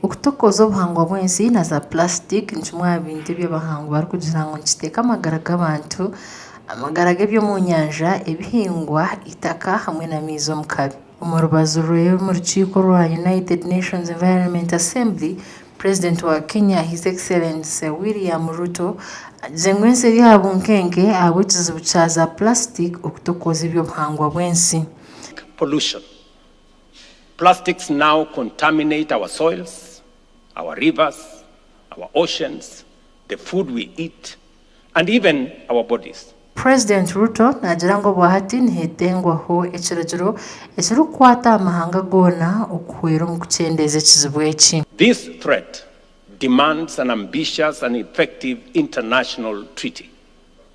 Okutokoza obuhangwa bw'ensi na za plastic ni kimwe aha bintu ebi abahangwi barikugira ngu nikiteeka amagara g'abantu, amagara g'eby'omu nyanja, ebihingwa, eitaka hamwe n'amaizi omu kabi. Omu rubaju rwe omu rukiiko rwa United Nations Environment Assembly, Purezidenti wa Kenya His Excellency William Ruto agize ngu ensi eri aha bunkenke ahabw'ekizibu kya za plastic okutokoza eby'obuhangwa bw'ensi. Pollution Plastics now contaminate our soils, our rivers, our oceans, the food we eat and even our bodies. President Ruto naagira ngu obwahati nihetengwaho ekiragiro ekirikukwata aha mahanga goona okuhwera omu kukyendeeza ekizibu eki. This threat demands an ambitious and effective international treaty.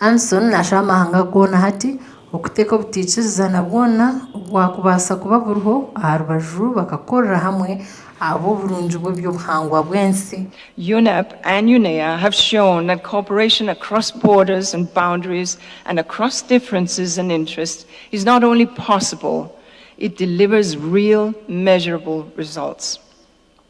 Anson naashaha amahanga goona hati okuteeka obutaikirizana bwona obwakubaasa kuba buriho aha rubaju bakakorera hamwe ahabw'oburungi bw'eby'obuhangwa bw'ensi. UNEP and UNEA have shown that cooperation across borders and boundaries and across differences and interests is not only possible, it delivers real measurable results.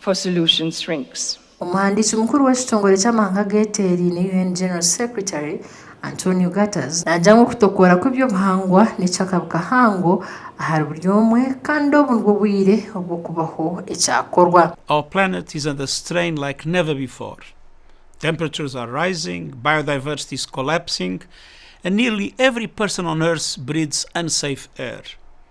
for solution shrinks. Omuhandiiki mukuru w'ekitongore ky'amahanga ageteeraine, UN General Secretary, Antonio Gutters, naagira ngu okutokoora kw'eby'obuhangwa n'ekyo akabi kahango ahari buri omwe kandi obu nibwo bwire obw'okubaho ekyakorwa. Our planet is under strain like never before. Temperatures are rising, biodiversity is collapsing and nearly every person on earth breathes unsafe air.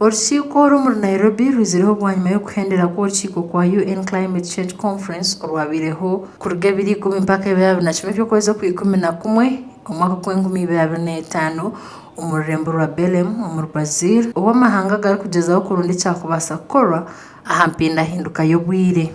Orukiiko orw'omuri Nairobi rwizireho bwanyima y'okuhendera kw'orukiiko kwa UN Climate Change Conference orwabaireho kuruga ebiri ikumi mpaka ebiri abiri na kimwe eby'okwezi okwa ikumi na kumwe omwaka gwa enkumi ibiri abiri na etaano omu rurembo rwa Belem omuri Brazil obu amahanga garikugyezaho kurunda ekyakubaasa kukorwa aha mpindahinduka y'obwire.